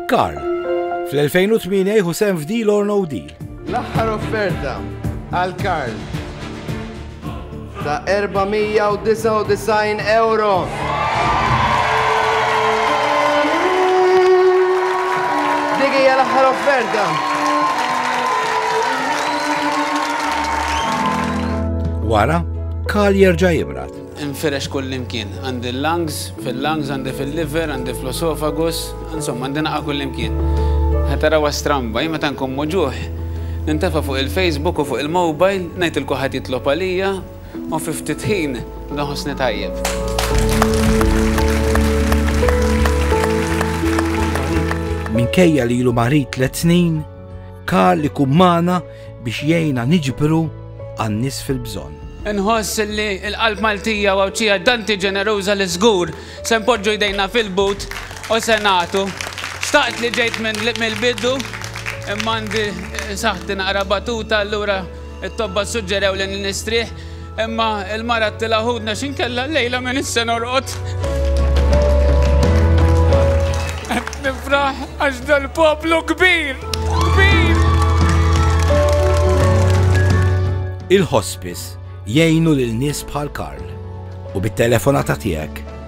Karl, fl-2008 jieħu sehem f'Deal or No Deal. L-aħħar offerta għal Karl ta' 499 euro. Dik hija l-aħħar offerta. Wara, Karl jerġa' jibrat. Infirex kullimkien. Għandi l-lungs, fil-lungs, għandi fil-liver, għandi fl-oesofagus, insomma għandi naqa' kullimkien. Ħa tarawha stramba, jien meta nkun muġugħ, nintefa' fuq il-Facebook u fuq il-mobile, ngħid 'il kulħadd jitlob għalija u fi ftit ħin noħossni tajjeb. Minkejja li ilu marid tliet snin, Karl ikun magħna biex jgħinna niġbru għan-nies fil-bżonn. Inħoss li l-qalb Maltija u Għawdxija tanti ġeneruża li żgur se npoġġu jdejna fil-but u se nagħtu. Xtaqt li ġejt mill-bidu imma għandi saħħti naqra batuta allura t-tobba ssuġġerewli li nistrieħ. Imma l-mara qtilha ħudna x'inkella llejla m'iniex se norqod. Qed nifraħ għax dal-poplu kbir, kbir. Il-hospice jgħinu lil nies bħal Karl u bit-telefonata tiegħek